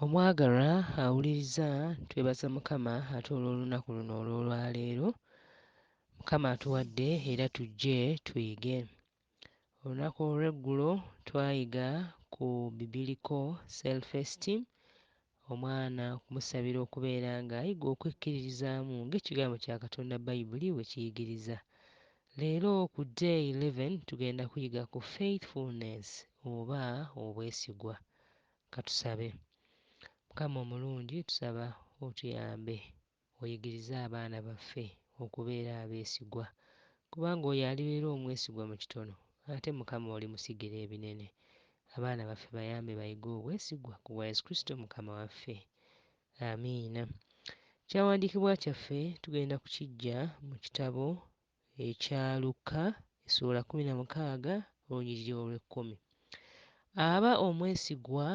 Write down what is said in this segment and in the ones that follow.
Omwagalwa awuliriza twebaza Mukama ate olw'olunaku luno olw'olwaleero Mukama atuwadde era tujje tuyige. Olunaku olw'eggulo twayiga ku bibiliko self esteem Omwana okumusabira okubeera ng'ayiga okwekkiririzaamu ng'Ekigambo kya Katonda Bayibuli bwe kiyigiriza. Leero, ku Day Eleven, tugenda kuyiga ku faithfulness, oba obwesigwa. Ka tusabe. Mukama omulungi, tusaba Otuyambe. Oyigirize abaana baffe okubeera abeesigwa, kubanga oyo alibeera omwesigwa mu kitono, ate Mukama olimusigira ebinene. Abaana baffe bayambe bayige obwesigwa ku bwa Yesu Kristo Mukama waffe. Amiina. Ekyawandiikibwa kyaffe tugenda kukiggya mu kitabo ekya Lukka essuula kumi na mukaaga olunyiriri olw'ekkumi. Aba omwesigwa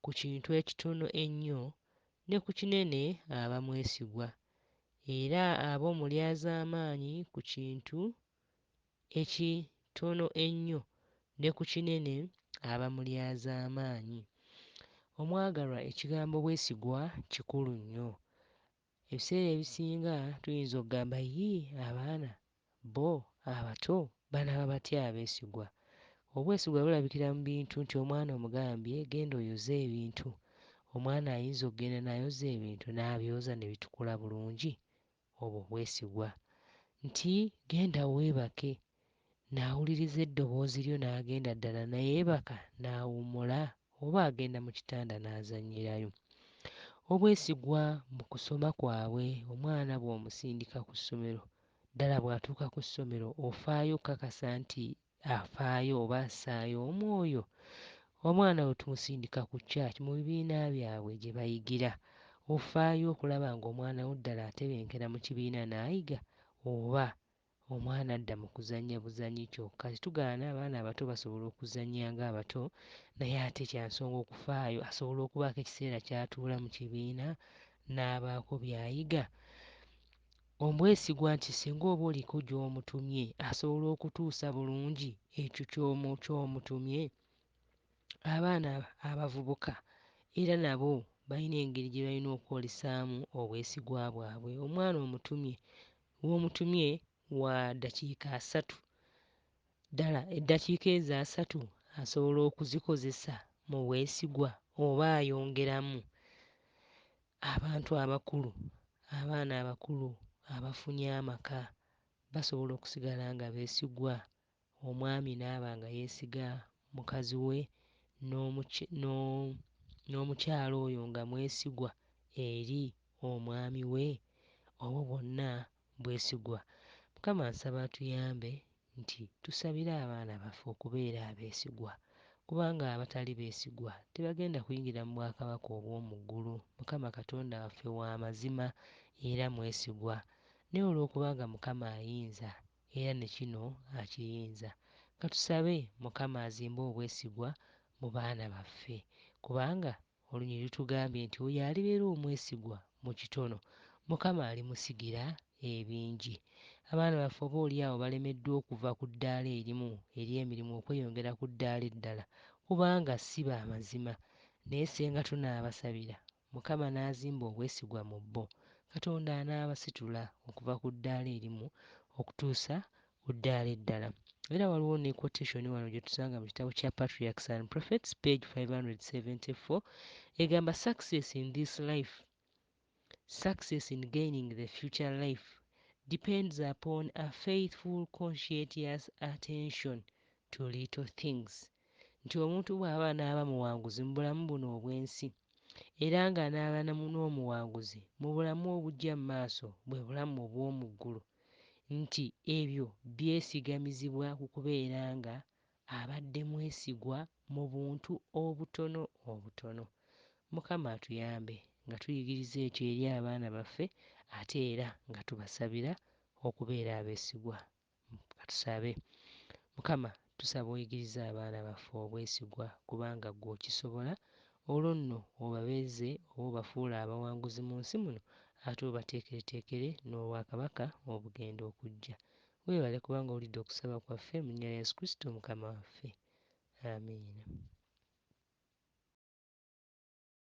ku kintu ekitono ennyo ne ku kinene aba mwesigwa, era aba omulyazaamaanyi ku kintu ekitono ennyo ne ku kinene aba mulyazaamaanyi. Omwagalwa, ekigambo bwesigwa kikulu nnyo. Ebiseera ebisinga tuyinza okugamba, Yii, abaana, bo abato, banaaba batya abeesigwa? Obwesigwa bulabikira mu bintu nti omwana omugambye, Genda oyoze ebintu. Omwana ayinza okugenda n'ayoza ebintu, n'abyoza ne bitukula bulungi. Obwo bwesigwa. Nti, Genda weebake. n'awuliriza eddoboozi lyo n'agenda ddala nayeebaka n'awummula oba agenda mu kitanda n'azannyirayo. Obwesigwa mu kusoma kwabwe Omwana bw'omusindika ku ssomero, ddala bw'atuuka ku ssomero ofaayo okukakasa nti afaayo oba assaayo omwoyo? Omwana bwe tumusindika ku church mu bibiina byabwe gye bayigira ofaayo okulaba ng'omwana wo ddala atebenkera mu kibiina n'ayiga oba Omwana adda mu kuzannya buzannyi kyokka tetugaana abaana abato basobola okuzannya ng'abato naye ate kya nsonga okufaayo asobola okubaako ekiseera ky'atuula mu kibiina n'abaako by'ayiga. Omwesigwa nti singa oba oliko gy'omutumye asobola okutuusa bulungi ekyo ky'omutumye. Abaana abavubuka era nabo balina engeri gye balina okwolesaamu obwesigwa bwabwe. Omwana omutumye w'omutumye wa ddakiika asatu. Ddala eddakiika ezo asatu asobola okuzikozesa mu bwesigwa oba ayongeramu? Abantu abakulu, abaana abakulu abafunye amaka basobola okusigala nga beesigwa Omwami n'aba nga yeesiga mukazi we n'omukyala oyo nga mwesigwa eri omwami we, obwo bwonna bwesigwa. Mukama nsaba atuyambe nti tusabire abaana baffe okubeera abeesigwa kubanga abatali beesigwa tebagenda kuyingira mu bwakabaka obw'omu ggulu. Mukama Katonda waffe wa mazima era mwesigwa naye olw'okuba nga Mukama ayinza era ne kino akiyinza. Katusabe Mukama azimbe obwesigwa mu baana baffe kubanga olunyiriri lutugambye nti oyo alibeera omwesigwa mu kitono, Mukama alimusigira ebingi. Abaana baffe oba oli awo balemeddwa okuva ku ddaala erimu ery'emirimu okweyongera ku ddaala eddala kubanga si ba mazima. Naye Ssenga tunaabasabira Mukama n'azimba obwesigwa mu bo, Katonda anaabasitula okuva ku ddaala erimu okutuusa ku ddaala eddala. Era waliwo ne quotation wano gye tusanga mu kitabo kya Patriarchs and Prophets, page 574, egamba, Success in this life, success in gaining the future life, depends upon a faithful conscientious attention to little things. nti omuntu bw'aba anaaba muwanguzi mu bulamu buno obw'ensi, era nga anaaba na mu n'omuwanguzi mu bulamu obujja mu maaso, bwe bulamu obw'omu ggulu, nti ebyo byesigamizibwa ku kubeera nga abadde mwesigwa mu buntu obutono obutono. Mukama atuyambe nga tuyigiriza ekyo eri abaana baffe ate era nga tubasabira okubeera abesigwa. Katusabe. Mukama tusaba oyigirize abaana baffe obwesigwa kubanga ggwe okisobola, olwo nno obabeeze oba obafuule abawanguzi mu nsi muno ate obateekereteekere n'obwakabaka obugenda okujja. Weebale kubanga owulidde okusaba kwaffe mu nnya lya Yesu Kristo Mukama waffe. Amiina.